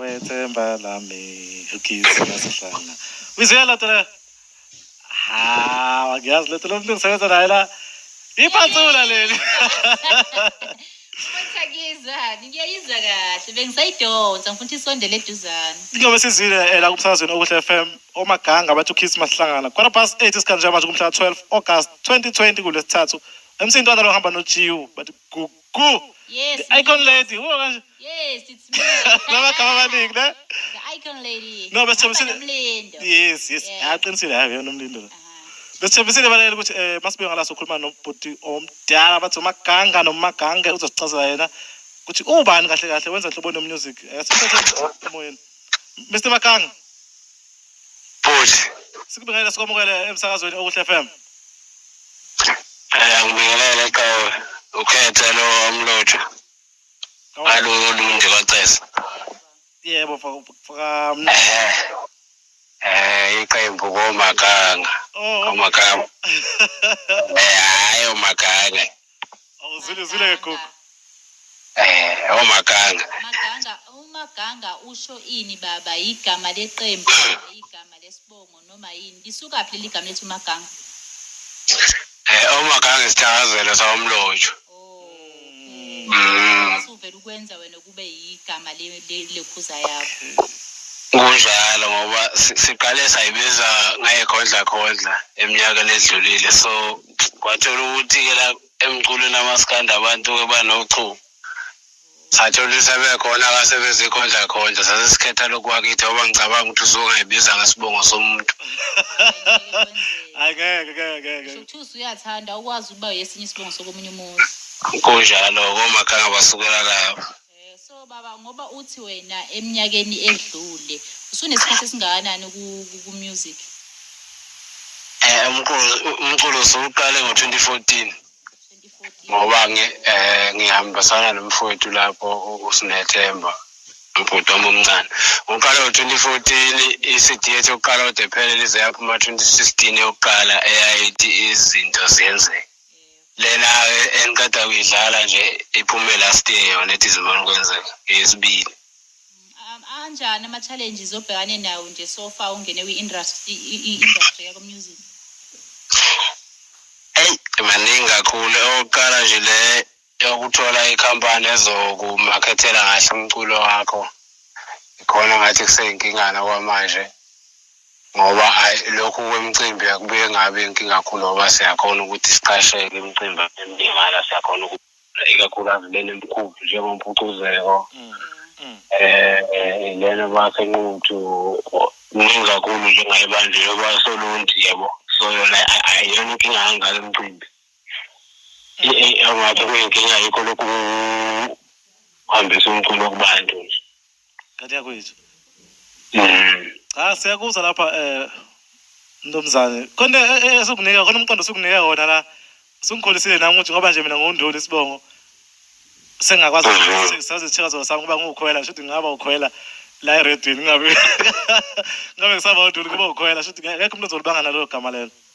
wethemba lami ukithi nasihlanga uyizwela lento le hawu angiyazi lento lo mntu ngisebenza naye la ipansula leli Futhi akizani, ngiyayizwa kahle. Bengisayidonsa, ngifuna ukuthi isondele eduzane. ingoba sizile eh, la kumsakazweni okuhle fm omaganga abathi ukithi masihlangana quarter past 8 isikhathi njenganje kumhla 12 august 2020 kulesithathu emsini ntwana lohamba nojiwu bathi gu- Ku. Yes. The icon Mnikazi. lady. Uba kanje. Yes, it's me. Lamagama amaningi ne? The icon lady. No, bese Hamba thembisile- nomlindo. Yes, yes. Yeah. Ah, qinisile hayi yona umlindo. lo. Aha. Besithembisile balaleli ukuthi eh masibuye ngala sokhuluma nobhuti omdala bathi uMaganga noMagange uzosicazela yena ukuthi ubani kahle kahle wenza nhlobo no music. Asiphethe emoyeni. Mr Maganga. Bhuti. Sikubingelele sikwamukele emsakazweni okuhle FM. Eh ngibingelele qhawe ukhethe lo umlotho. Alo lunje kwacesa. Yebo mfaka. Eh. Eh iqembu komaganga. Oh. Komaganga. Eh hayi omaganga. awuzulizile ke gogo eh omaganga oh, maganga umaganga oh, usho ini baba igama leqembu igama lesibongo noma yini lisuka phi leli gama lethi umaganga eh omaganga oh, isithakazelo sawomlonjo mm. uvela ukwenza wena kube yigama lekhuza yakho kunjalo ngoba siqale sayibiza ngayekhondla khondla eminyakeni edlulile so kwathola ukuthi-ke la emculweni amaskanda abantu-ke banochuku sathola ukuthi sebekhona kasebezikhondlakhondla sase sikhetha lokhu wakithi oba ngicabanga ukuthi uzongayibiza ngesibongo somuntu angeke ngeke ngeke Shukuthi uyathanda ukwazi ukuba yesinye isibongo sokomunye umuntu. kunjalo komakhanga basukela lapho So baba ngoba uthi wena eminyakeni edlule usunesikhathi esingakanani ku- ku music? Eh, umculo umculo siwuqale ngo-2014 2014. ngoba ngi, eh, ngihambisana nomfowethu lapho u- usinethemba ubhuti wami omncane uqale ngo-2014 i-cd yethu yokuqala ode phele lize yaphuma 2016 yokuqala eyayithi izinto ziyenzeka lena engiqeda kuyidlala nje iphume last year yona ethi zibona kwenzeka eyesibili anjani ama-challenges obhekane nawo nje so far ungene kwi-industry i-industry yako music eyi maningi kakhulu okokuqala nje le yokuthola ikhampani ezokumakhethela kahle umculo wakho ikhona ngathi kuseyinkinga okwamanje ngoba ayi lokhu kwemicimbi akubuye ngabe inkinga kakhulu ngoba siyakhona ukuthi siqasheke imicimbi emingala siyakhona ikakhulukazi lena emkhulu njengompucuzeko um mm, mm. lena basenquthu kuningi kakhulu njengaye banje yoba solunti yebo so yona ayiyona inkinga kangaka emcimbi angathi kuyinkinga yikho lokhu kuhambisa umculo kubantu nje kanti yakwethu mm. cha siyakuzwa lapha um ntombuzane khona eh, eh, esikunika khona umqondo sikunika wona la sungikholisile nami ukuthi ngoba nje mina ngunduli isibongo sengakwazi mhm. sazithika zona sami kuba ngiwukhwela shuthi ngingaba ukhwela la eredweni ngabe ngabe ngisaba unduli kuba ukhwela shuthi ngekho umuntu ozolibanga nalelo gama lelo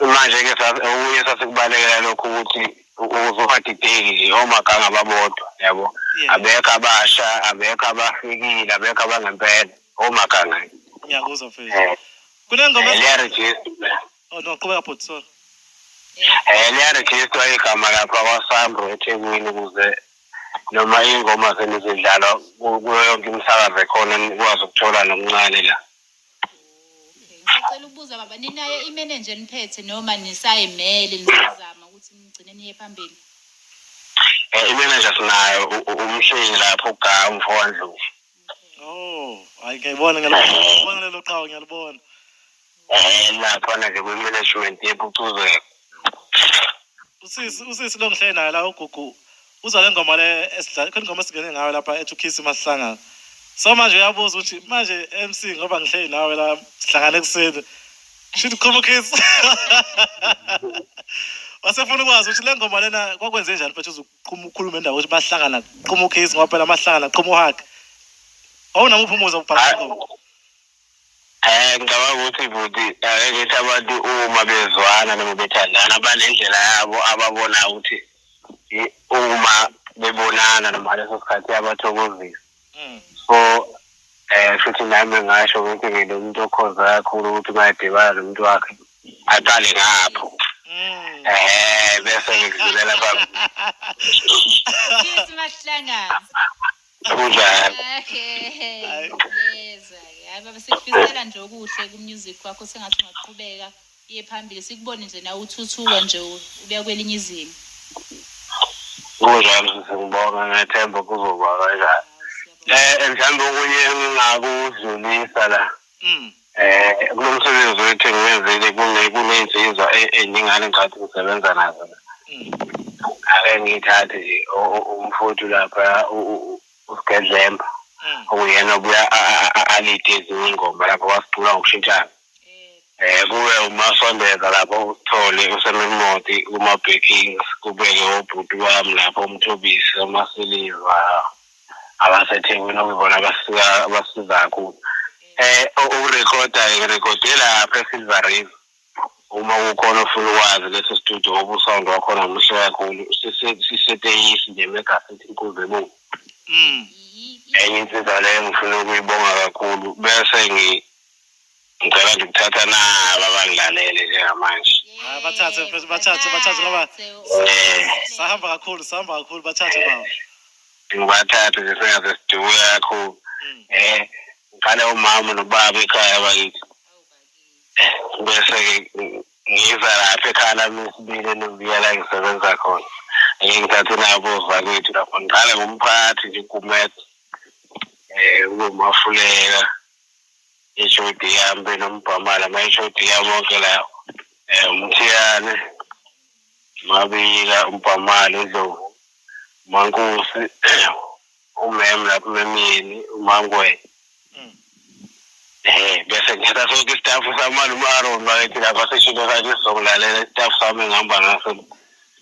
manje-ke okunye sasikubalekela lokho ukuthi ukuze ungadideki nje omaganga babodwa yabo abekho abasha abekho abafikile abekho abangempela omaganga ngiyakuzwa mfethu eh. kunengoma eh, liyarejista oh no qhubeka bhuti sorry um liyarejistwa igama lapha kwasambro ethekwini ukuze noma iy'ngoma senizidlalwa kuyo yonke imisakazo ekhona nikwazi ukuthola nokuncane la Okay. Ngisacela ukubuza baba ninayo imenenja eniphethe noma nisayimele nisazama ukuthi nigcine niye phambili. Eh, imenenja sinayo u- u- umhlengi lapho ugawu mfowandlovu Oh, hayi ngiyayibona ngiyalibona lelo qhawe ngiyalibona. Eh, nakhona ke kwi-management yephucuzeko Usisi usisi longihle naye la ugugu uzwa le ngoma le esidlala khona ingoma esingene ngayo lapha ethi ukhisi masihlangana so manje uyabuza ukuthi manje MC ngoba ngihleli nawe la sihlangane ekuseni shithi qhuma ukhisi wasefuna ukwazi ukuthi le ngoma lena kwakwenze njani mfethu uzuqhuma ukhulume indawo ukuthi bahlangana qhuma ukhisi ngoba phela amahlangana qhuma uhag awunamuphi umuzwa ubhala ingoma Eh ngicabanga ukuthi bhuti akethi abantu uma bezwana noma bethandana banendlela yabo ababona ukuthi i- uma bebonana noma ngaleso sikhathi yabathokozisa. Mm. So eh futhi nami ngasho ukuthi ngilomuntu okhonza kakhulu ukuthi uma edibana nomuntu wakhe aqale ngapho. Mm. Eh bese ngidlulela phambi. Cheers mahlangana. kunjalo baba sikufisela nje okuhle ku-music wakho sengathi ungaqhubeka iye phambili sikubone nje nawe uthuthuka nje ubuya kwelinye izinga kunjalo sisengibonga ngethemba kuzoba kanjani um mhlawumbe okunye engingakuzinisa la mm. eh kulo msebenzi wethu engiwenzile kuney'nsizwa eningane ngicatha ukusebenza nazo mm. ake ngiyithathe nje umfowethu lapha usigedlemba mm. okuyena obuya alide ezinye ingoma lapho wasicula ngokushintshana eh kube umasondeza lapho uthole usememoti kuma-backings kubeke obhuti wami lapho umthobisi omasiliva abasethekwini okuyibona abasika abasiza kakhulu eh ukurekhoda ngirekhode lapha esilver river uma kukhona ofuna ukwazi lesi studio obusound wakhona muhle kakhulu siseteyisi nje megasithi inkuzi ebungu mm. enye insiza leyo ngifuna ukuyibonga kakhulu bese ngi ngicela nje ukuthatha nabo abangilalele njengamanje Hayi bathathe mfethu bathathe bathathe ngoba eh sahamba kakhulu sahamba kakhulu bathathe baba. ngibathathe nje sengaze siduke kakhulu Mm. eh ngiqale umama nobaba ekhaya bakithi bese-ke ng- ngiza lapha ekhaya lami esibili elubiya la ngisebenza khona ngike ngithathe nabo zakwethu lapho ngiqale ngomphathi nje ugumede um uzomafulela ishodi yami benombhamala mayishodi yami onke lawo eh, um umthiyane mabika umbhamala indlovu umankosi umem lapho umemyeni umangwenya mm. eh bese ngithatha sonke istafu samani uma-aron bakethi lapha sishilo sakhe sizokulalela istafu sami ngihamba ngaso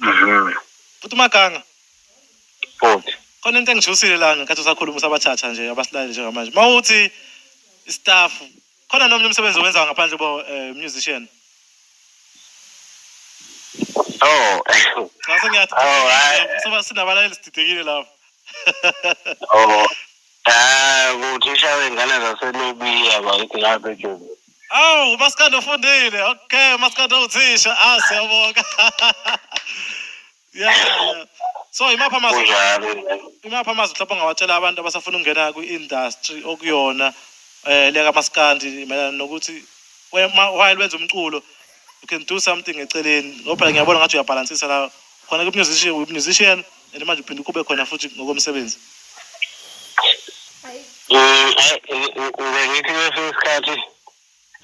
Mhm. Futhi umaganga. Futhi. Khona into engijusile la ngenkathi usakhuluma usabathatha nje abasilaleli njengamanje. Mawuthi istaff khona nomnye umsebenzi owenzayo ngaphandle bo eh, musician. Oh. Ngase ngiyathi. Oh, hayi. Soba sinabalaleli sididekile lapho. Oh. Ah, ukuthi ushawe ingane zaselobiya bakithi ngabe nje. Awu, umaskandi ufundile. Okay, umaskandi uthisha. Ah, siyabonga. Yeah. yeah. So imapha amazwi Kunjalo. imapha amazwi mhlawumbe ongawatshela abantu abasafuna ukungena kwi-industry okuyona eh leka maskandi mayelana nokuthi we- ma- while wenza umculo you can do something eceleni ngoba phela ngiyabona ngathi uyabhalansisa la khona ke musician we musician and manje uphinde ukube khona futhi ngokomsebenzi ngithi kwesinye isikhathi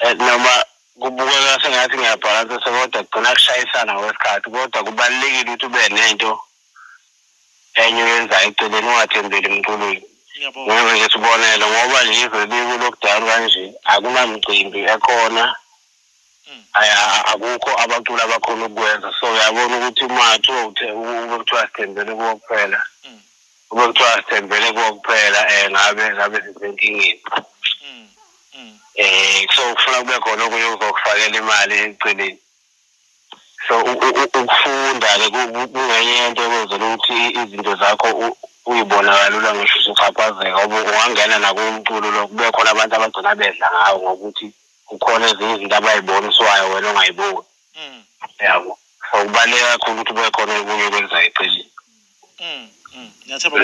eh, noma kubukeka sengathi ngiyabhalansa sekodwa kugcina kushayisana ngokwesikhathi kodwa kubalulekile ukuthi ube nento enye oyenzayo eceleni ungathembeli emculweni ngoba nje sibonele ngoba nje izwe likukudala kanje akunamcimbi ekhona akukho abaculi abakhona ukukwenza so uyabona ukuthi uma kuthiwa ube kuthiwa sithembele kuwo kuphela mm. ube kuthiwa sithembele kuwo kuphela um eh, ngabe ngabe sisenkingeni um mm. eh, so kufuna kube khona okunye uzokufakela imali eceleni so ukufunda-ke kungenye yento ekwenzela ukuthi izinto zakho uyibona kalula ngisho usuchaphazeka ungangena nakumculo lo kube khona abantu abagcina bedla ngawo ngokuthi kukhona ezinye izinto abayiboniswayo wena ongayiboni mm. yabo so kubaluleke kakhulu ukuthi kube khona okunye okwenza eceleni mm, mm. ngiyathemba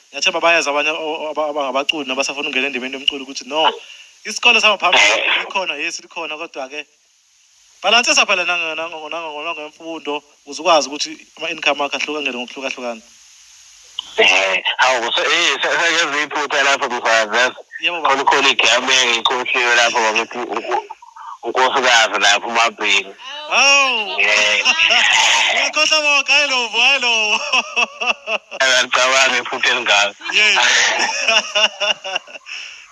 ngiyathemba bayazi abanye abangabaculi nabasafuna ukungena endimeni yomculo ukuthi no isikole sangaphambili likhona yesi likhona kodwa-ke balansisa phela nangemfundo Uze ukwazi ukuthi ama-income akho ahlukangele ngokuhlukahlukana. Eh, hawu kuso eh sekenze iphutha lapho mfazi yazi. Yebo baba. Khona khona igame ngikhohliwe lapho bakithi unku- unkosikazi lapho umabhini. Hawu. Eh. Uyakhohlwa bonke hayi lovo hayi lovo. Akalicabanga iphutha elingaka. Yey.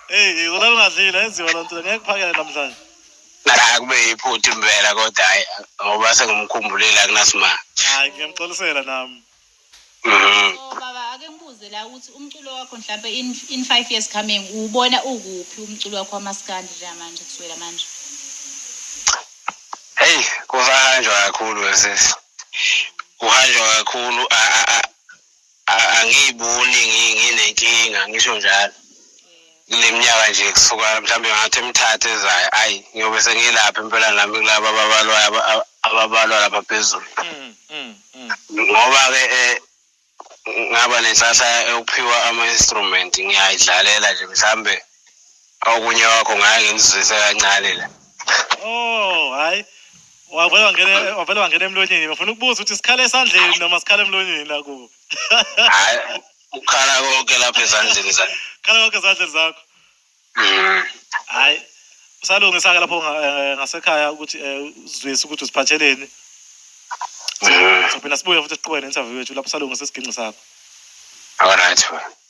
Hey, ngona lungadlile enziwa lonto ngeke kuphakele namhlanje. Cha kube yiphutha impela kodwa hayi ngoba sengimkhumbulile akunasimanga. Hayi ngiyamxolisela nami. Mhm. Oh, baba ake ngibuze la ukuthi umculo wakho mhlawumbe in, in five years coming uwubona ukuphi umculo wakho wamaskandi njengamanje kusukela manje Hey kusahanjwa kakhulu wesisi. Kuhanjwa kakhulu a a a a- angiyiboni ngi- nginenkinga ngisho njalo kule minyaka nje kusuka mhlawumbe ngathi emithathu ezayo ayi ngiyobe sengilapha impela nami kulaba ababalwayo aba- aba- ababalwa lapha phezulu Mm, mm, mm. ngoba-ke um ngaba nenhlahla yokuphiwa ama-instrument ngiyayidlalela nje mhlawumbe okunye wakho ngaye ngimzwise kancane la oh hayi wavele wangena wavele wangena emlonyeni bafuna ukubuza ukuthi sikhala esandleni noma sikhala emlonyeni la kubo hayi ukhala konke lapha ezandleni zakho khala konke ezandleni zakho mm. hayi usalungisa-ke lapho eh, ngasekhaya ukuthi eh, uzwise ukuthi uziphatheleni mm. sophinde sibuye futhi siqhubeke ne-interview yethu lapho usalungisa isigingci sakho all right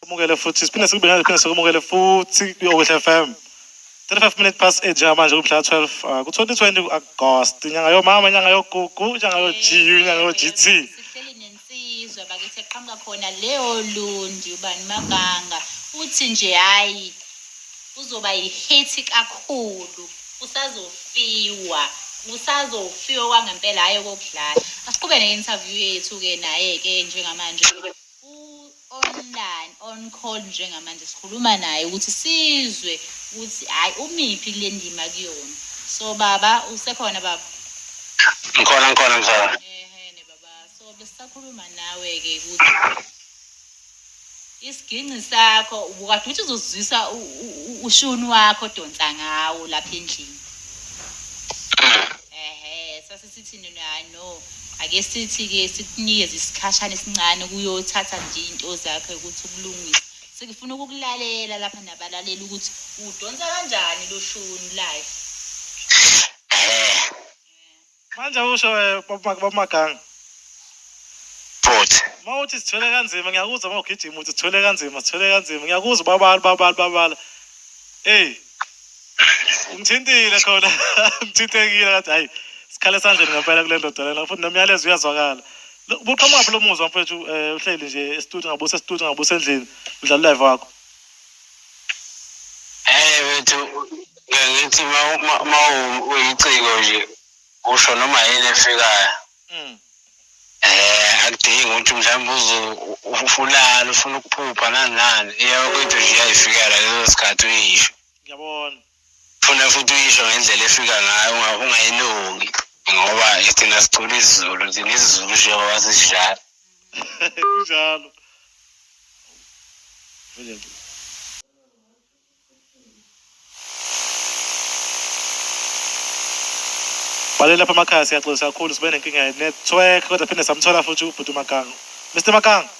Kumukele futhi siphinde sikubingelele siphinde sikumukele futhi kwi-Okuhle FM 35 minutes past 8 njengamanje kumhla 12 uh, ku-2020 ku-August inyanga yomama inyanga yogugu inyanga yo-GU inyanga yo-GT sihleli nensizwa bakithi eqhamuka khona leyo lundi ubani maganga uthi nje hhayi uzoba yihithi kakhulu usazofiwa usazofiwa kwangempela hhayi okokudlala asiqhube ne-interview yethu-ke naye-ke njengamanje online on call njengamanje sikhuluma naye ukuthi sizwe ukuthi hayi umiphi kule ndima kuyona so baba usekhona baba ngikhona ngikhona mzala ehene baba so besisakhuluma nawe-ke ukuthi isiginci sakho ubukade ukuthi uzozwisa ushuni wakho odonsa ngawo lapha endlini Sithi nina hayi no ake sithi ke sikunikeze isikhashana esincane ukuyothatha nje into zakhe ukuthi ukulungisa sikufuna ukukulalela lapha nabalaleli ukuthi udonsa kanjani lo shuni live manje usho eh, baba- babamaganga futhi uma uthi sithwele kanzima ngiyakuzwa uma ugijima uthi sithwele kanzima sithwele kanzima ngiyakuzwa ubabala ubabala ubabala eyi ngithintile khona ngithintekile ngathi hayi sikhala esandleni ngempela kule ndoda lena futhi nomyalezo uyazwakala buqhamuka phela umuzwa mfethu um eh, uhleli nje esitudio ngabusa esitudio ngabusa endlini udlala ulive wakho hey wethu ngithi ma uyiciko nje usho noma yini efikayo um akudingi ukuthi mhlawumbe uze ufulale ufuna ukuphupha nani nani iyakwethu nje iyayifikela leso sikhathi uyisho ngiyabona funa futhi uyisho ngendlela efika ngayo ungayilungi ngoba thina sicula isizulu thina isizulu njengoba sisidlala kunjalo bale lapha amakhaya siyaxolisa kakhulu sibe nenkinga ye-network kodwa phinde samthola futhi ubhuti umagango mr magango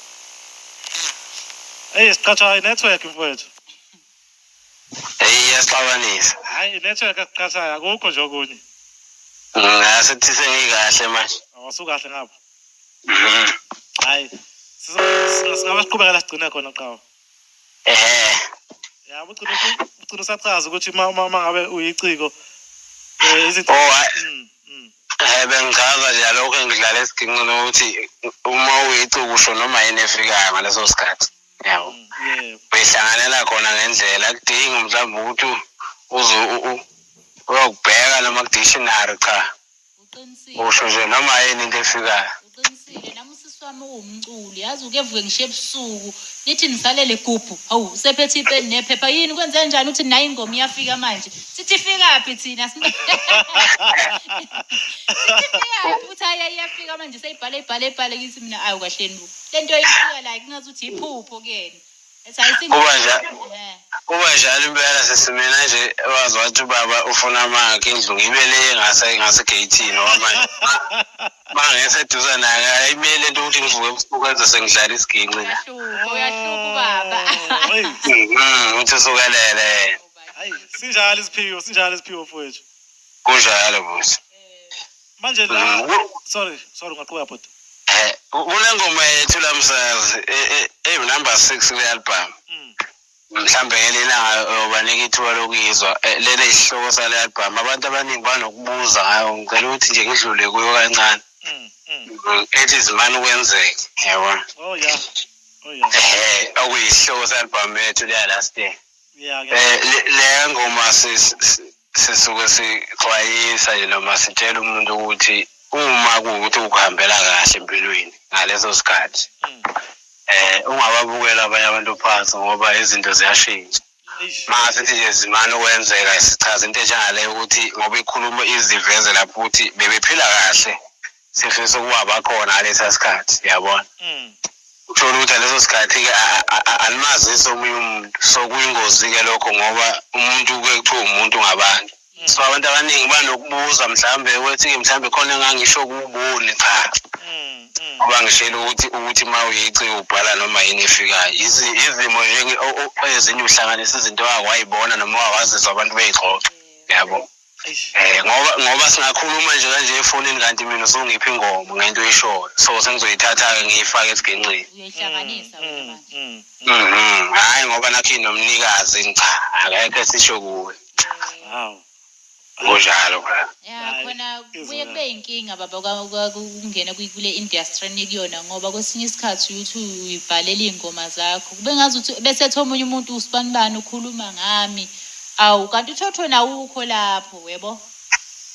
eyi siqhathwa i-network mfowethu eyi iyaxabanisa hayi inetwork esiqhathayo akukho nje okunye ngasithi sengikahle manje awusukahle oh, ngapha mhm. hayi singabasiqhubekela sigcine khona qhawa ehe ya ugcina ugcina usachaza ukuthi uma uma ngabe uyiciko eh, izinto oh, mm, mm. Eh bengichaza nje lokho engidlala esiginqini ukuthi uma uyicuku usho noma yini efikayo ngaleso sikhathi yabo behlanganela khona ngendlela kudingi mhlawumbe ukuthi uze uyokubheka noma kudictionary cha usho nje noma yini into efikayo uqinisile nami usisi wami uwumculi yazi uke vuke ngisho ebusuku nithi nisalele gubhu hawu usephethe ipeni nephepha yini kwenze njani uthi nayi ingoma iyafika manje sithi ifikaphi thina sithi ifikaphi uthi hayi iyafika manje seyibhale ibhale ibhale kithi mina ayi kahleni lento ishiya like ngathi uthi iphupho kuyena ethi ayisinto Kuba njalo. Eh. kuba njalo impela sesimina nje wazi wathi ubaba ufuna amakhe indlu ngibe le ngase ngasegeyithini ngoba manje uma ngeseduza naye ayimele into ukuthi ngivuke ebusuku enze sengidlala isiginci la uyahluka uyahluka ubaba Oh, eyi, Mhm, uthi usukelele eyi, sinjalo isiphiwo sinjalo isiphiwo mfowethu kunjalo buthi manje la mm, sorry sorry ngaqhubeka bhuti eh kunengoma yethu la msazi eh, eh, eh number 6 kule album mm. mhlambe ngelena yobanika ithuba lokuyizwa eh, lena isihloko sale album abantu abaningi banokubuza ngayo ngicela ukuthi nje ngidlule kuyo kancane mm, mm. ethi izimani ukwenzeka yabona oh yeah oh yeah eh okuyisihloko se album yethu le last year yeah eh le ngoma sis sisuke sixwayisa nje noma sitshela umuntu ukuthi uma kuwukuthi ukuhambela kahle empilweni ngaleso sikhathi mm. eh ungababukela abanye abantu phansi ngoba izinto ziyashintsha maka sithi nje zimane ukwenzeka sichaza into enjengaleyo ukuthi ngoba ikhulumo iziveze lapho ukuthi bebephila kahle sifisa ukuba bakhona ngalesa sikhathi yabona mm. uthole ukuthi ngaleso sikhathi-ke alimazise omunye umuntu so kuyingozi-ke lokho ngoba umuntu kuye kuthiwa umuntu ngabantu mm. so abantu abaningi banokubuza mhlawumbe ukuthi-ke mhlawumbe khona engangisho kuwuboni cha mm, ngoba ngishela ukuthi ukuthi uma uyici ubhala noma yini efikayo izimo ezinye uhlanganisa izinto owake wayibona noma owake wazizwa abantu beyixoxa yabo Eh ngoba ngoba singakhuluma nje kanje efonini kanti mina usungiphi ingoma ngento eshoyo. So sengizoyithatha ke ngiyifake esiginqini. Uyihlanganisa mm, wena manje. Mm, mm. Mhm. Hayi ngoba nakhi nomnikazi cha akekho esisho kuwe. Wow. Kunjalo bra. Ya Hayi, khona izona. kuye kube inkinga baba ka- ka- ukungena kwi- kule industry enikuyona ngoba kwesinye isikhathi uthi uyibhalela iy'ngoma zakho. Kube ngazuthi bese ethi omunye umuntu usibanibani ukhuluma ngami. Awu kanti uThothweni awukho lapho webo.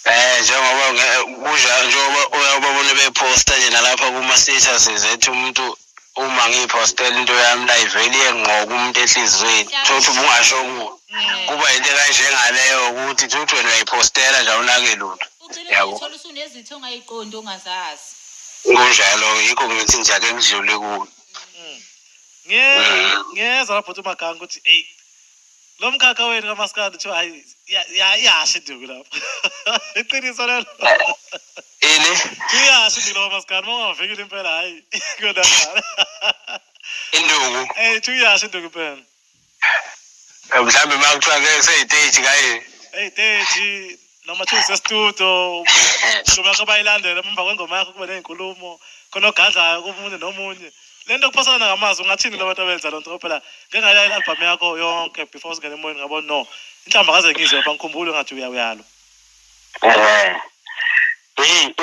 Eh njengoba nge- kunja njengoba uyababona beposta nje nalapha kuma status ethi umuntu uma ngiyipostela into yami la ivele iyengqoka umuntu ehlizweni thothi ubungasho kuwo Mm. kuba yinto kanje ngaleyo ukuthi thothi wena uyayipostela nje awunake lutho Ugcine Yabo. ngokuthola usunezitho ongayiqondi ongazazi. kunjalo yikho ngithi nje ake ngidlule kuwo Nge- ngeza lapho uthi umagange ukuthi eyi lo mkhakha wenu kamaskandi kuthiwa hayi ya- ya- iyasha induku lapho iqiniso lelo ini iyasha induku lapho kamaskandi uma ungavikile impela hayi kodwa induku eyi kuthiwa iyasha induku impela mhlawumbe uma kuthiwa ke seyiteji kaye eyi teji noma kuthiwa usestudio umshumi yakho bayilandele emva kwengoma yakho kube ney'nkulumo khona ogadlayo komunye nomunye le nto kuphosana ngamazwi ungathini kulo bantu abenza loo nto ngoba phela ngengayila i-albhamu yakho yonke before usingene emoyeni ngabo no inhlamba kaze ngizwe bangikhumbule ngathi uyalo um Hey,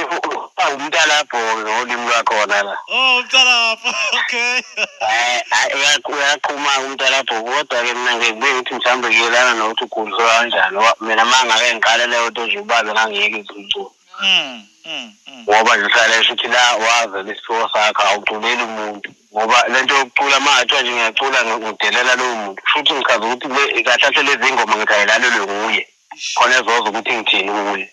umntalabhonge ngolimi lwakhona la. Oh, umntalabho. Okay. Eh, eh uyaqhuma umntalabho kodwa ke mina ngeke ukuthi mhlambe kuyelana nokuthi ugudlwa kanjani. Mina manga ke ngiqale leyo nto nje ubabe ngangiyeke izimculo. Mm. Mm. mm. Ngoba ngihlale futhi la waze lesifiwo sakho awuculeli umuntu. Ngoba lento yokucula manje nje ngiyacula ngidelela lowo muntu. Futhi ngichaza ukuthi kahle kahle lezi ngoma ngithi ayilalelwe nguye. Khona ezoza ukuthi ngithini kuye.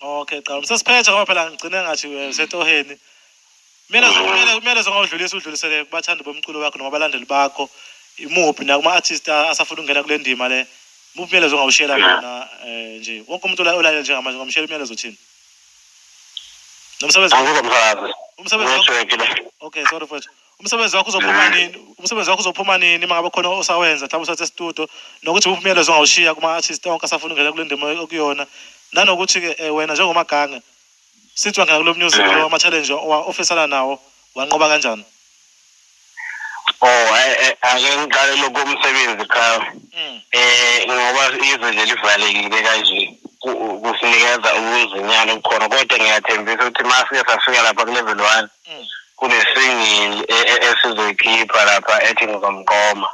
Okay, qala. Sesiphethe ngoba phela ngigcine ngathi eh, usetoheni. Kumele kumele kumele zongawudlulisa udlulisele kubathandi bomculo wakho noma abalandeli bakho. Imuphi nakuma artist a- asafuna ukungena kule ndima le. Muphi umyalezo ongawushela wona eh nje. Wonke umuntu ola- olalele njengamanje ngamshela umyalezo uthini? Nomsebenzi Angike msakazi. umsebenzi wakho. Ngeshwekile. Okay, sorry mfowethu. umsebenzi wakho uzophuma nini umsebenzi wakho uzophuma nini uma ngabe khona osawenza mhlawumbe usathi estudio nokuthi uphi umyalezo ongawushiya kuma-artist onke asafuna ungena kule ndima okuyona nanokuthi-ke um wena njengomagange sithi wangena kulo music lo ama-challenge ofisana nawo wanqoba kanjani o oh, eh, eh, ake ngiqale lokho umsebenzi cha um ngoba izwe nje livalekile kanje kusinikeza ukuzinyana okukhona kodwa ngiyathembisa ukuthi uma sike safika lapha kuleveli one kunesingle e- e- esizoyikhipha lapha ethi ngizomqoma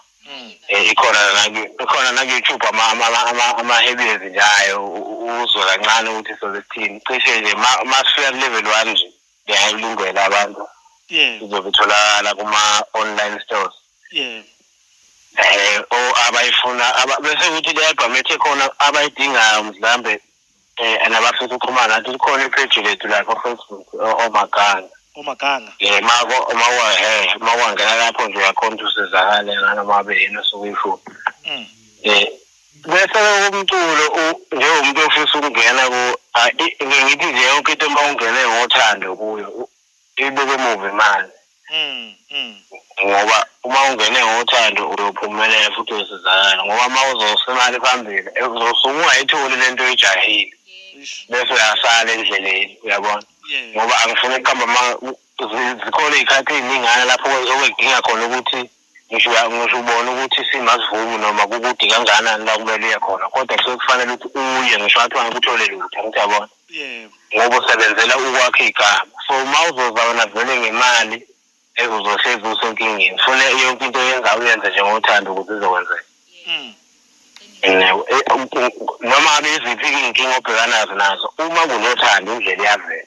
Eh, ikhona naku- ikhona naku-youtube ama- ama- ama- ama- ama-heavies nje ayo u- u- uzwe kancane ukuthi soze sithini cishe nje ma- ma sifika ku-level one nje ngiyayilungela abantu Yeah, izobe itholakala kuma-online stores yeah. um o abayifuna aba- bese kuthi leyabhamethe khona abayidingayo mhlambe eh and abafisa ukuxhumana athi likhona ipage lethu la ko Facebook omaganga omaganga eh mako uma wa he uma wangena lapho nje uyakhona usizakale ngana mabe yena sokuyifu mm. eh bese umculo njengomuntu ofisa ukungena ku ngithi nje yonke into uma ungene ngothando kuyo ibeke emuva imali mm, mm. ngoba uma ungene ngothando uyophumelela futhi uyosizakala ngoba uma uzosa imali phambili eh, uzosuke ungayitholi le nto oyijahile bese uyasala endleleni uyabona ngoba angifuni ukuqamba zikhona iy'khathi ey'ningana lapho okudinga khona ukuthi ngisho uya- ngisho ubona ukuthi isimo asivumi noma kukude kangakanani la kumele uye khona kodwa kusuke kufanele ukuthi uye ngisho ngathi angikuthole lutho angithi yabona yebo ngoba usebenzela ukwakha igama so uma uzoza wena vele ngemali eh, uzohlezi usenkingeni fune yonke into oyenzayo uyenze njengothanda ukuthi izokwenzeka Mm. Nginabo. Eh, u- u- noma ngabe iziphi iy'nkinga obhekanazo nazo uma kunothando indlela iyavela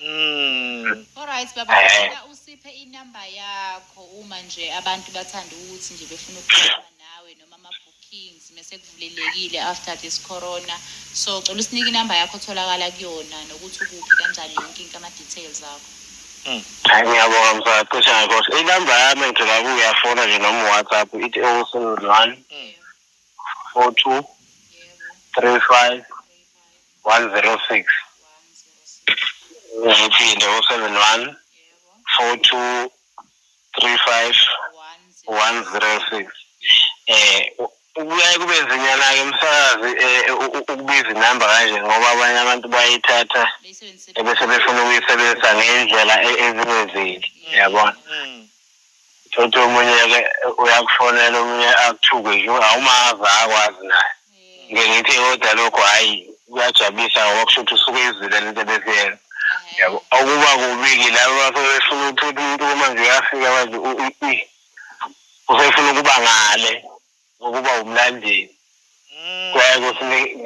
Mm. Alright baba Eh. ngicela usiphe inamba yakho uma nje abantu bathanda ukuthi nje befuna ukukhuluma nawe noma ama-bookings mese kuvulelekile after this corona so cela usinike inamba yakho otholakala kuyona nokuthi ukuphi kanjani yonke into ama-details akho Hayi ngiyabonga msana cishe ngakhohlwa. Inamba yami engithola kuyo uyafona nje noma uWhatsApp ithi 071 Mm. 42 yebo 35 106 ngiphinde u-71 42 35 106 eh kuyaye kube nzinyana-ke umsakazi um ukubiza inamba kanje ngoba abanye abantu bayithatha ebese befuna ukuyisebenzisa ngey'ndlela e-, ezingenzeki mm, yabona mm. thothi omunye-ke uyakufonela omunye akuthuke nje awumazi akwazi naye ngike ngithi kodwa lokho hhayi kuyajabulisa ngoba kusho ukuthi usuke izwile le nto ebeziyena yabo okuba kubi-ke laba basebefuna ukuthi uthi umuntu kumanje uyafika manje usefuna ukuba ngale ngokuba wumlandeli mm. kuyaye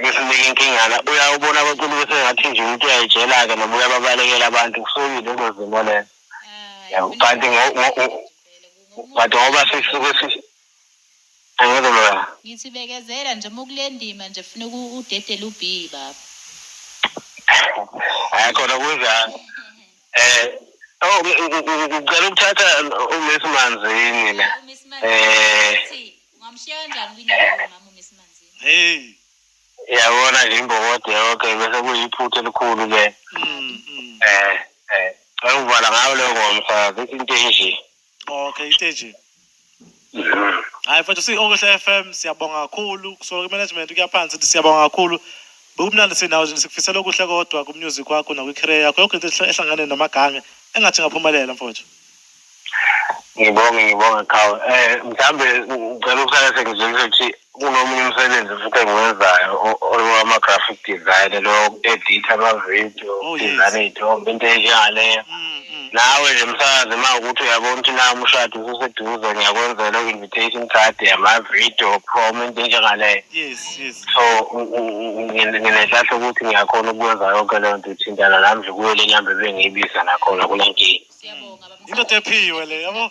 kusinike inkingana uyawubona abaculi besengathi nje umuntu uyayijela-ke noma uyababalekela abantu kusuke yilezo zimo lezo ah, kanti but ngoba sisuke Angeke loya. Ngithi bekezela nje uma ukulendima nje funa uku- udedele u B baba. Hayi khona kunjani. Eh oh ngi- ngi- ngi- ngicela ukuthatha u Miss Manzini la. U Miss Manzini Eh. uthi ungamshiya kanjani kwindawo yomama u Miss Manzini. Hey. Yabona nje imbokode yonke bese kuyiphutha elikhulu ke. Mm, mm. Eh eh. Ngicela ukuvala ngayo leyo ngoma msakazi into enje. Okay, iteji. Yeah. Hayi mfethu si Okuhle FM siyabonga kakhulu kusuka kumanagement kuya phansi sithi siyabonga kakhulu. Bekumnandi sinawe nje sikufisela okuhle kodwa ku music wakho nakwi career yakho yonke into ehle- ehlangane namagange engathi ngaphumelela mfowethu. Ngibonge ngibonge Khawu. Eh mhlambe ngicela ukusala sengizwile ukuthi kunomunye umsebenzi futhi engiwenzayo owama-graphic design lo editha ama-video oh, design iy'thombe into enjengaleyo mm, mm. nawe nje msakazi uma ukuthi uyabona ukuthi na umshado ususeduze ngiyakwenzela u-invitation card yama-video prom into enjengaleyo so nginenhlahla ukuthi ngiyakhona ukwenza yonke leyo nto ithintana nami nje kuyo le nyamba ebengiyibiza nakhona kule nkinga into tephiwe le yabo